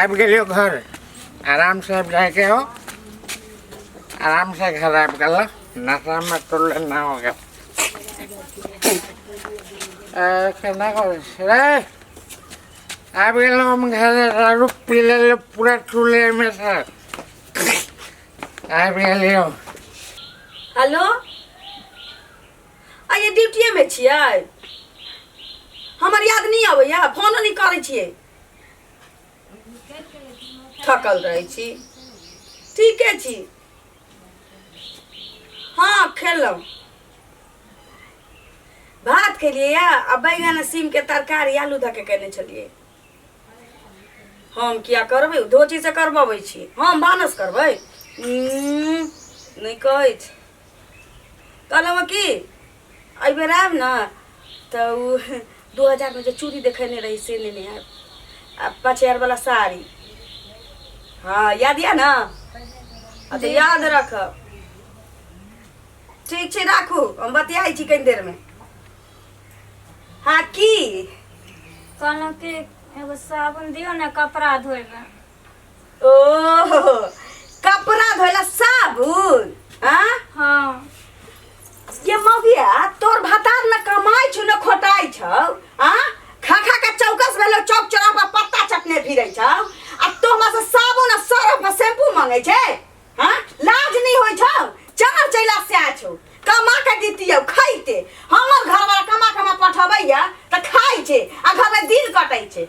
आबि गेलियो घर आराम से आबि जाएके हो आराम से घर आबि गेल नशा में तो लेना हो गेल केना करै छै रे आबि गेलहुँ हम घरे दारू पी लेलियो पूरा चूल्हेमे से आबि गेलियो हेलो आइए ड्यूटिएमे छियै हमर याद नहि अबैए फोनो नहि करै छियै थकल रहै छी ठीके छी हँ खेलहुँ भात खेलियै या आ बैगन आ सीमके तरकारी आलू धऽ के केने छलियै हम किया करबै धोती से करबबै छी हम भानस करबै उम्म, नहि कहै छी कहलहुँ कि एहि बेर आयब ने तऽ ओ दू हजारमे जे चूड़ी देखेने रही से लेने आयब आ पाँच हजारवला साड़ी हँ याद यऽ ने आ तऽ याद रखब ठीक छै राखू हम बतियाइ छी कनि देरमे हँ की कहलहुँ कि एगो साबुन दियौ ने कपड़ा धोइमे ओहो कपड़ा धोला साबुन आ हाँ ये मौगिया तोर भतार न कमाई छु न खोटाई छौ आ खा खा के चौकस भेलो चौक चौरा पर पत्ता चटने फिरै छौ आ तो हमरा से साबुन आ सरफ आ शैम्पू मांगे छै हां लाज नहीं होय छौ चमर चैला से आ छौ कमा के दितियौ खैते हमर घर वाला कमा कमा पठबैया त खाइ छै आ घर में दिन कटै छै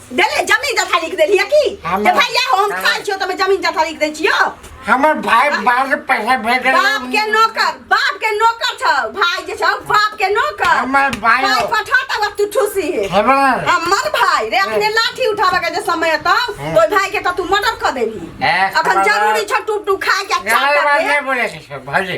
देले जमीन जथा लिख देली है की हम- जे भैया हो हम हम- खाइ छियो तमे जमीन जथा लिख दै छियो हमर भाई बाहर से पैसा भेज देलक। बाप के नौकर बाप के नौकर छौ भाई जे छौ बाप के नौकर हमर भाई भाई हो। पठा तब तू ठूसी है हेबे ना। हमर भाई रे अपने लाठी उठावे के जे समय त हम्म। तो भाई के त तू मर्डर कर देली ए, अखन खबर- जरूरी छ टूप टूप खाए के गाली चाटा बात के नहीं बोले के छै, भाजी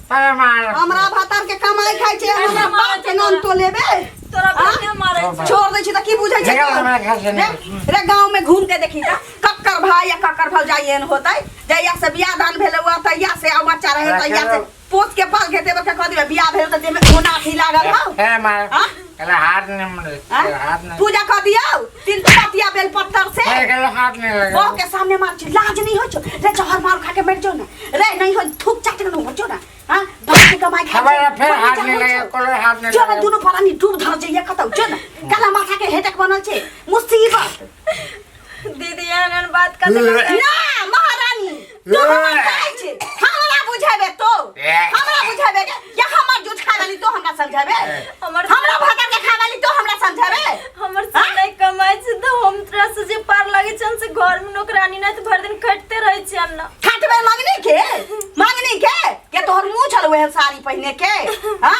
तारा मार हमरा भतार के कमाई खाइ छै हमरा बाप के नाम तो लेबे तोरा आ? कहिया मारै छै छोड़ दै छी तऽ की बुझै छै देखा हमरा घर से रे निकल। रे गांव में घूम के देखी त कक्कर भाई या कक्कर भौजाई एहन होतै जहिया से बियाह दान भेले हुआ तहिया से आ बच्चा रहे तहिया से पोत के पाल घेते बच्चा कह दिबे बियाह भेल त देह में ओना अथी लागल हौ ए मार आ? कल हाथ नहीं मरे हाँ? कल हाथ नहीं पूजा कर दियो तीन पतिया बेल पत्थर से अरे कल हाथ नहीं लगे बहू के सामने मार छी लाज नहीं हो छो रे जहर मार खा के मर जो ना रे नहीं हो थूक चाट के हो जो ना हां बाप के कमाई खा खबर है, फिर हाथ नहीं लगे कल हाथ नहीं जो ना लगे दोनों परानी डूब धर जाइए कतौ जो ना काला माथा के हेटक बनल छे मुसीबत दीदी एहन बात कर ना महारानी तू हमरा कहै छी हमरा बुझाबे तो हमरा बुझाबे के या हमर जूठ खा वाली तो हमरा समझाबे हमर हमरा भाता के खा वाली तो हमरा समझाबे हमर से नहीं कमाई से तो हम तोरा से जे पार लगे छन से घर में नौकरानी नहीं तो भर दिन खटते रहे छी हम ना खटबे मंगनी के मंगनी के के तोहर मुंह छल वह साड़ी पहने के हां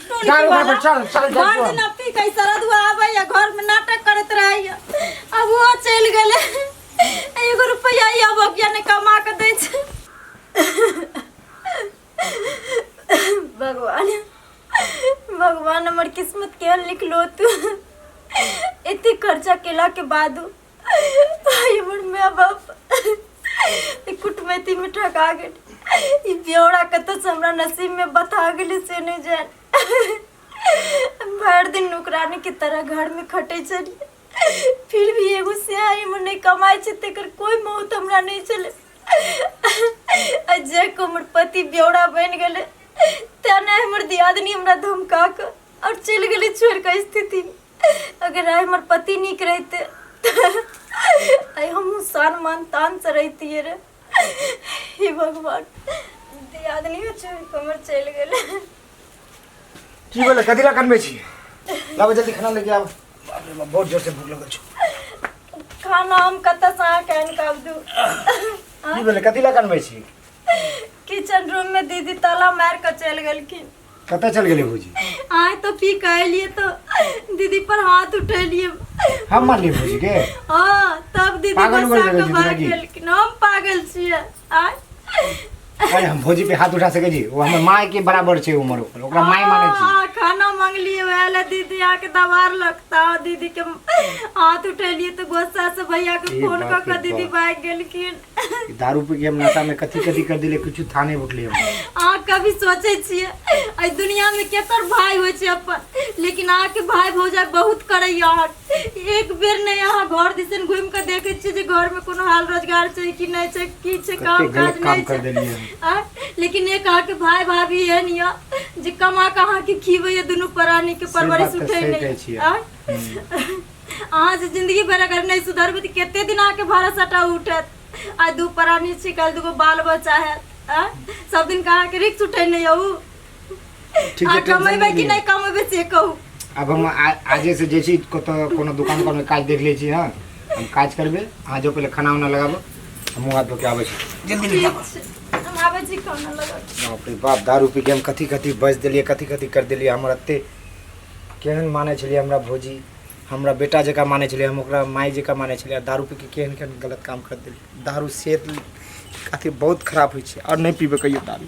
दारू का पर चल चल चल भर दिन अथी कई सरद हुआ आवे या घर में नाटक करत रही अब वो चल गेले एगो रुपया ही अब अगिया ने कमा के दे छै भगवान भगवान हमर किस्मत केहन लिखलो तू एते खर्चा केला के बादो भाई हमर माय बाप ई कुटमैती में ठका गेल ई ब्यौरा कतऽ से हमरा नसीब में बता गेलै से नहि जान भरि दिन नौकरानी के तरह घर में खटै छलियै फिर भी एगो सियाही में नहि कमाइ छै तेकर कोई मौत हमरा नहि छलै आ जे को हमर पति ब्यौरा बनि गेलै तेना हमर दियादनी हमरा धमका कऽ आओर चलि गेलै छोड़ि कऽ स्थिति अगर आइ हमर पति नीक रहिते तऽ आइ हमहूँ सान मान तानसँ रहितियै रे हे भगवान दियादनियो छोड़ि कऽ हमर चलि गेलै की बोले कथी ला कनबे छी लाबो जल्दी खाना लेके आब बाप रे बाप बहुत जोर से भूख लगल छौ खाना हम कतऽसँ अहाँके आनि कऽ आब दू की बोले कथी ला कनबे छी किचन रूममे दीदी ताला मारि कऽ चलि गेलखिन कतऽ चल गेलै भौजी आय तो पी के अलिए तो दीदी पर हाथ उठेलिए हम मारलिए भौजी के हां तब दीदी पागल बसा के भाग गेल कि हम पागल छिए आय अरे हम भौजी पे हाथ उठा सके जी वो हमर माय के बराबर छे उम्र ओकर ओकरा माय माने छी हां खाना मांगलिए वाला दीदी आके दवार लगता दीदी के हाथ उठेलिए तो गुस्सा से भैया के फोन क के दीदी भाग गेलखिन ई दारू पी के हम नशा में कथी कथी कर दिले कुछ था नहीं उठले हम अहाँ कभी सोचै छियै एहि दुनियामे केकर भाय होइ छै अपन लेकिन अहाँके भाय भौजाइ बहुत करैए अहाँ एक बेर नहि अहाँ घर दिसन घुमि कऽ देखै छियै जे घरमे कोनो हाल रोजगार छै कि नहि छै की छै कते काम काज गलत काम नहि कर छै देलिए हम आ, लेकिन एक अहाँके भाय भाभी एहन यऽ जे कमा कऽ अहाँके खिबैए दुनू प्राणीके परवरिश बात तऽ उठै सही कहै नहि छियै। आ, अहाँ जे जिंदगी भर अगर नहीं सुधरबे तो कते दिन आके भाड़ा सटा उठत आ दू प्राणी छी कल दूगो बाल बच्चा है आ? सब दिन कहाँ के रिक्स उठे नहीं हूँ ठीक आ है टेंशन कमेबे नहीं कि लिअ। नहीं कमेबे से कहू अब हम आ- आजे से जैसे कत कोनो दुकान पर में काज देख ले छी हां हम काज करबे अहाँ जो पहले खाना उना लगाबो हम मुंह हाथ धो के आबै छी जल्दी ले आबो। हम आबे छी खाना लगा बाप रे बाप दारू पी के हम कथी कथी बज देलिए कथी कथी कर देलिए हमर अत्ते केहन मानै छलियै हमरा भौजी हमरा बेटा जकाँ मानै छलियै हम ओकरा माय जकाँ मानै छलियै आ दारू पी कऽ केहन केहन गलत काम करि देलियै दारूसँ अथी बहुत खराब होइ छै आओर नहि पीबै कहियो दारू